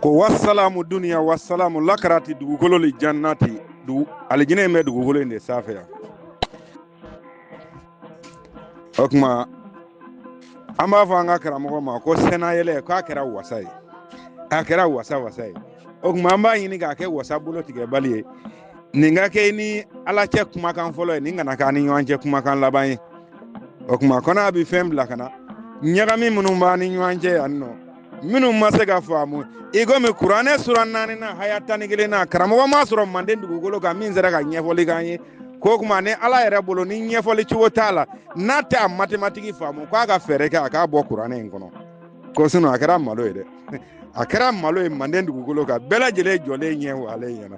ko wasalamu duniya wasalamu lakarati dugukolo li jannati alijinɛ in bɛ dugukolo in de sanfɛ yan o kuma an b'a fɔ an ka karamɔgɔ ma ko sɛnayɛlɛ k'a kɛra wasa ye a kɛra wasa wasa ye o kuma an b'a ɲini k'a kɛ wasa bolo tigɛbali ye nin ka k'i ni ala cɛ kumakan fɔlɔ ye nin kana k'an ni ɲɔgɔn cɛ kumakan laban ye o kuma kɔnɔ a bɛ fɛn bila ka na ɲagami minnu b'an ni ɲɔgɔn cɛ yan nɔ minnu ma se ka faamu i komi kuranɛ sura naani na haya tan ni kelen na karamɔgɔ ma sɔrɔ manden dugukolo kan min sera ka ɲɛfɔli k'an ye ko kuma ni ala yɛrɛ bolo ni ɲɛfɔli cogo t'a la n'a tɛ a matematiki faamu k'a ka fɛɛrɛ kɛ a k'a bɔ kuranɛ in kɔnɔ ko sinɔn a kɛra malo ye dɛ a kɛra malo ye manden dugukolo kan bɛɛ lajɛlen jɔlen ɲɛ wa ale ɲɛna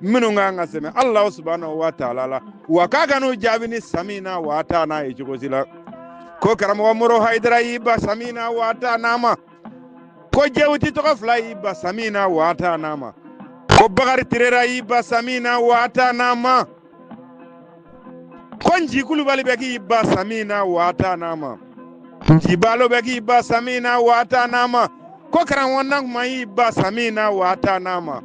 minnu ka kan ka sɛmɛ alahu subahanahu wa taala la wa k'a kan'u jaabi ni samina wa atana ye cogo si la ko karamɔgɔ moro hayidara y'i ban samina wa atana ma ko jewuti tɔgɔ fila y'i ban samina wa atana ma ko bakari tirera y'i ban samina wa atana ma ko nci kulubali bɛ k'i ban samina wa atana ma nci balo bɛ k'i ban samina wa atana ma ko karamɔgɔ nankuma y'i ban samina wa atana ma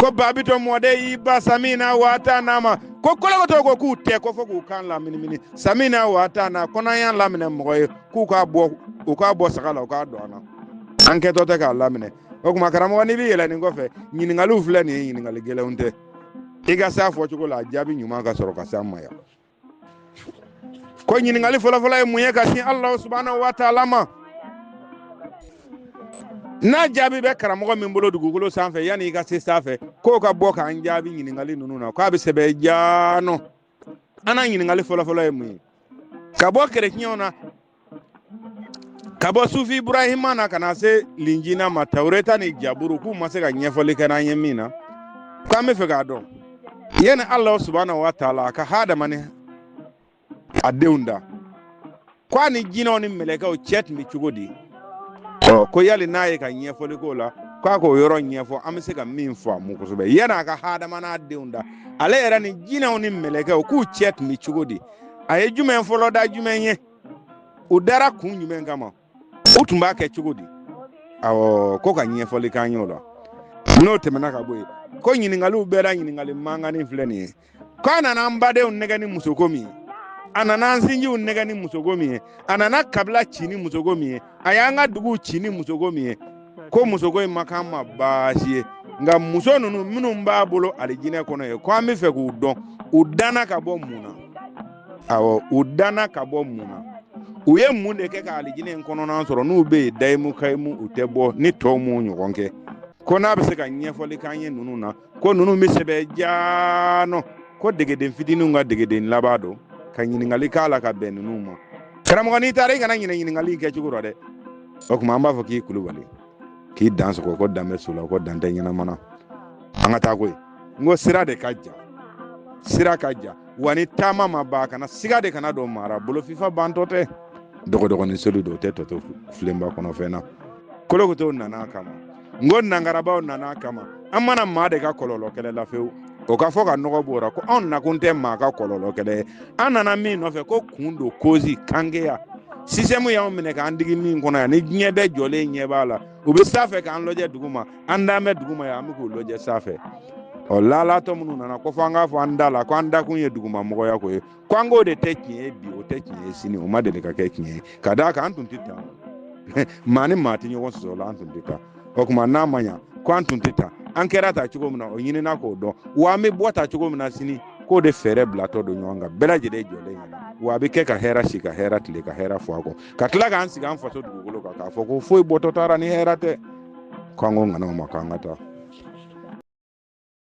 ko babito mɔden y'i ban samina wa atana ma ko kolokoto ko k'u tɛ ko fɔ k'u kan laminimini samina wa atana ko n'an y'a laminɛ mɔgɔ ye k'u k'a bɔ saga la u k'a don an na an kɛtɔ tɛ k'a laminɛ o kuma karamɔgɔ n'i bɛ yɛlɛ nin kɔfɛ ɲininkaliw filɛ nin ye ɲininkali gɛlɛnw tɛ i ka s'a fɔcogo la a jaabi ɲuman ka sɔrɔ ka s'an ma yan ko ɲininkali fɔlɔfɔlɔ ye mun ye ka sin alahu subahanahu wa taala ma n'a jaabi bɛ karamɔgɔ min bolo dugukolo sanfɛ yanni i ka se sanfɛ k'o ka bɔ k'an jaabi ɲininkali ninnu na k'a bɛ sɛbɛn jaanɔ an na ɲininkali fɔlɔfɔlɔ ye mun ye ka bɔ kerecɛnw na ka bɔ sufi iburahima na ka na se linjina ma tawureta ni jaburu k'u ma se ka ɲɛfɔli kɛ n'an ye min na k'an bɛ fɛ k'a dɔn yanni alahu subahanahu wa taala a ka hadama ni a denw da ko a ni jinɛw ni mɛlɛkɛw cɛ tun bɛ cogo di ɔ ko yali n'a ye ka ɲɛfɔli k'o la k'a k'o yɔrɔ ɲɛfɔ an bɛ se ka min faamu kosɛbɛ yan'a ka hadama n'a denw da ale yɛrɛ ni jinɛw ni mɛlɛkɛw k'u cɛ tun bɛ cogo di a ye jumɛn fɔlɔ da jumɛn ye u dara kun jumɛn kama u tun b'a kɛ cogo di awɔ ko ka ɲɛfɔli k'an y'o la n'o tɛmɛna ka bɔ yen ko ɲininkaliw bɛɛ la ɲininkali mankanni filɛ nin ye ko a nana an badenw nɛgɛ ni musoko min ye a nana an sinjiw nɛgɛ ni musoko min ye a nana kabila ci ni musoko min ye a y'an ka duguw ci ni musoko min ye ko musoko in ma k'an ma baasi ye nka muso ninnu minnu b'a bolo alijinɛ kɔnɔ ye ko an bɛ fɛ k'u dɔn u danna ka bɔ mun na awɔ u danna ka bɔ mun na u ye mun de kɛ ka alijinɛ in kɔnɔna sɔrɔ n'u bɛ yen dayimu kayimu u tɛ bɔ ni tɔw m'u ɲɔgɔn kɛ ko n'a bɛ se ka ɲɛfɔli k'an ye ninnu na ko ninnu bɛ sɛbɛn jaanɔ ko degeden fitininw ka degeden laban don ka ɲininkali k'a la ka bɛn ninnu ma karamɔgɔ n'i taara i kana ɲinɛ ɲininkali kɛ cogo rɔ dɛ o tuma an b'a fɔ k'i kulubali k'i dan sogo ko dan bɛ su la ko dan tɛ ɲɛnama na an ka taa koyi n ko sira de ka jan sira ka jan wa ni taama ma ban kana siga de kana don maa ra bolofifa bantɔ tɛ dɔgɔdɔgɔnin seri dun o tɛ tɔ to filenba kɔnɔ fɛn na kolokotow nana a kama n ko nangarabaw nana a kama an ma na maa de ka kɔlɔlɔ kɛlɛ la fewu o ka fɔ ka nɔgɔ b'o ra ko anw nakun tɛ maa ka kɔlɔlɔ kɛlɛ ye an nana min nɔfɛ ko kun don kozi kangeya système y'anw minɛ k'an digi min kɔnɔ yan ni diɲɛ bɛɛ jɔlen ɲɛ b'a la u bɛ sanfɛ k'an lɔjɛ dugu ma an dalen bɛ dugu ma yan an bɛ k'u lɔjɛ sanfɛ ɔ laalatɔ minnu nana ko fɔ an k'a fɔ an da la ko an dakun ye dugumamɔgɔya ko ye ko an k'o de tɛ tiɲɛ ye bi o tɛ tiɲɛ ye sini o ma deli ka kɛ tiɲɛ ye ka d'a kan an tun tɛ tan maa ni maa tɛ ɲɔgɔn sɔsɔ la an tun tɛ tan o tuma n'a ma ɲa ko an tun tɛ tan an kɛra tan cogo min na o ɲinina k'o dɔn wa an bɛ bɔ tan cogo min na sini k'o de fɛɛrɛ bilatɔ don ɲɔgɔn kan bɛɛ lajɛlen jɔlen ɲɛ na wa a bɛ kɛ ka hɛrɛ si ka hɛrɛ tile ka hɛrɛ fɔ a kɔ ka tila k'an sigi an faso dugukolo kan k'a fɔ ko foyi bɔtɔ t'a ra ni hɛrɛ tɛ k'an ko ŋanaw ma k'an ka taa